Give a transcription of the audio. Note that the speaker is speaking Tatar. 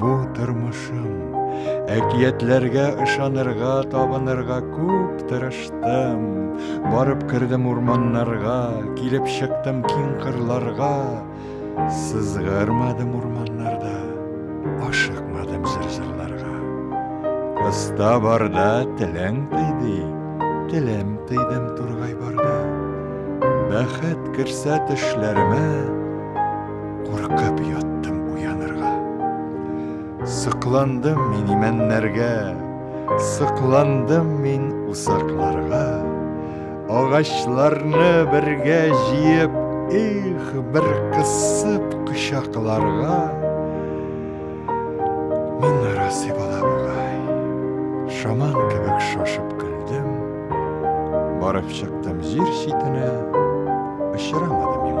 Бу тормышым. Әкиятләргә ышанырга, табынырга күп тырыштым. Барып кердем урманнарга, килеп чыктым киң кырларга. Сызгырмадым урманнарда, ашыкмадым зырзырларга. Кыста барда теләң тыйды, телем тыйдым тургай барда. Бәхет керсә төшләремә, Куркып яттым уянырга. Сыкландым мин имәннәргә, сыкландым мин усакларга. Агачларны бергә җыеп, их, бер кысып кочакларга. Мин нарасый бала бугай, шаман кебек шашып көлдем. Барып чыктым җир читенә, очрамады миңа.